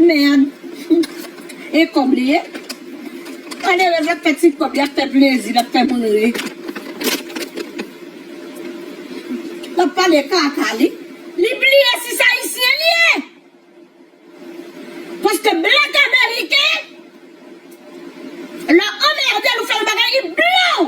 Merd e kob li ye. Malerez lap fe ti kob li ap fe plezi lap fe moun ri. Lap pale kaka li. Li bliye si se ayisyen li ye. Paske black ameriken lè ou anmerdel ou fel bagay li blanw.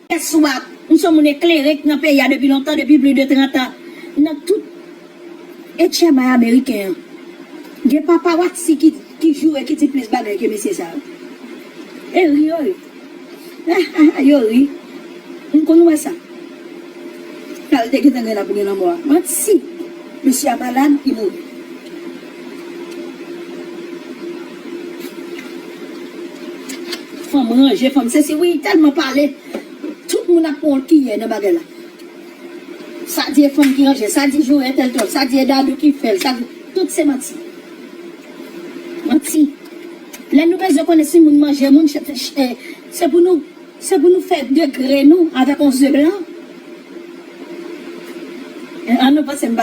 Kè swaf. M s on moun eklere k nan peyi a depi lontan, depi pli de 30 an. Nan tout etchèbay ameriken an, gen papa Waksi ki ki jou e ki di plis bagay ke mesye sa yo. E ri yo ri. Ha ha ha yo ri. M konn wè sa. Kal te gentan gen la pou gen lanmò a. Manti! Mesye a malad, li mouri. Fanm ranje fanm sesi wi telman pale tout moun ap pran yon kiyè nan bagay la sa di e fanm ki ranje sa di jou entèl tròp sa di e dadou ki fèl sa di tout se manti manti lè nou bezwen konnen si moun manje moun se pou nou. Se pou nou fè degre nou avèk yon ze blan? An nou panse m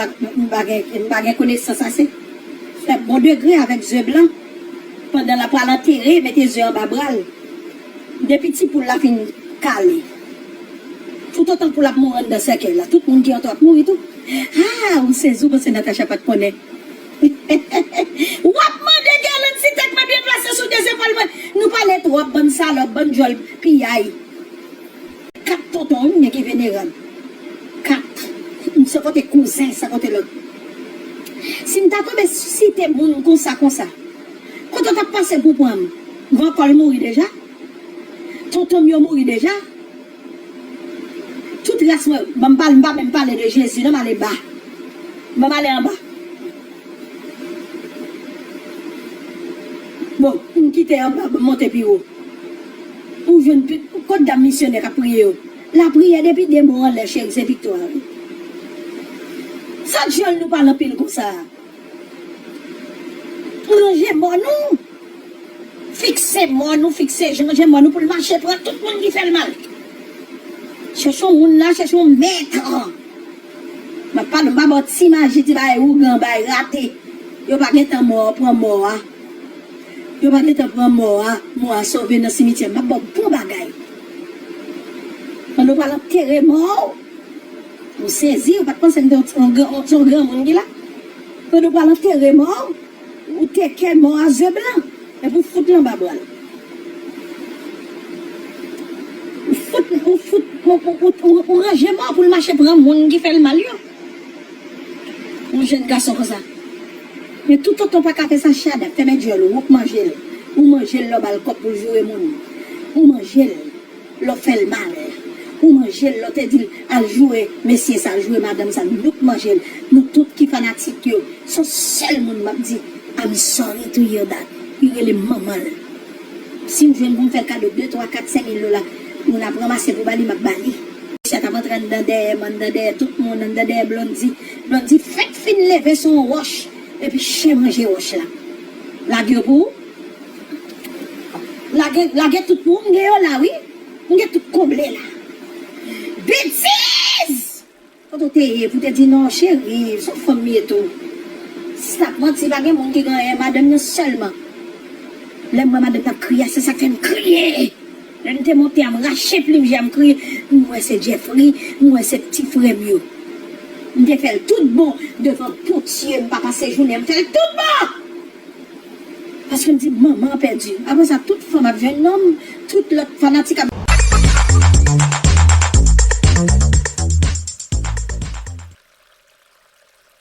pa gen konesans ase? Fè bon degre avèk ze blan pandan l ap pral antere mete ze anba bra l. Depi ti poul la fin kale, toutotan poul ap mouri anndan sèkèy la, tout moun ki antre w ap mouri tou. Haa ou sezi ou panse Natacha pa t konnen? Wap mande Guerlande si tèt mwen byen plase sou 2 zepòl mwen. Nou pale twòp bann salòp, bann djòl piyay. 4 tonton wi m gen ki venerab 4 m se kote kouzen se kote lòt si m ta tonbe site moun konsa konsa kote w tap pase pou pran m van kòl mouri deja tonton m yo mouri deja. Tout res mwen banm pale mpa menm pale de jezi nan male ba banm ale anba bon mkite anba banm monte piwo ou jwenn tout kot dam misyonè kap priye yo lapriyè depi de mo anlè cheri se viktwa wi sak jel nou pale anpil konsa. Pwolonje mòn ou, fikse mòn ou, fikse janje mòn ou pou l mache pran tout moun ki fè l mal. Chèche yon moun la, chèche yon mèt lan. M ap pale, m pa ba w ti maji, ti bagay ougan bay, rate. Yo pa gen tan mò a pran mò a. Yo pa gen tan pran mò a, mò a sove nan simityè. M ap ba w bon bagay. Pandan w pral antere mò ou. Ou sezi ou pat panse m te yon granmoun ki la Fedou pral antere mò ou te kè mò a ze blan epi ou fout l anba bra l ou fout ou ranje mò pou l mache pran moun ki fè l mal yo yon jèn gason konsa men tout tonton pa ka fè sa Shada fèmen dyòl ou ou k manje l ou manje l lè w ba l kòb pou l joure moun ou manje l. Lè w fè l mal pou manje l, lè w te di l al joure mesye sa, joure madanm sa, nou tout manje l, nou tout ki fanatik yo, s on sèl moun m ap di I'm sorry to hear that, li rele manman l. Si m jwenn pou m fè l kado de, twa, kat, sen mil dola pou n ap ranmase pou ba li, m ap ba li. Mesye a t ap antre anndan dèyè m, anndan dèyè tout moun, anndan dèyè Blondy. Blondy fèk fin leve s on wòch epi chen manje wòch la. Lage yo pou ou. Lage lage tout pou m gen yo la wi m gen tout konble la betiz. Kote w te ye pou te di non cheri son fanm m ye tou sis ap manti pa gen moun ki gen anyen madanm nan sèlman lè m wè madanm nan ap kriye a se sak fè m kriye lè nou te monte a m rache plim je a m kriye m wè se Jeffry m wè se pti frè m yo m te fè l tout bon devan potye m pa pase jounen m fè l tout bon. Paske m di manman an pèdi. Aprè sa tout fanm ap jwenn nonm, tout lòt fanatik ap.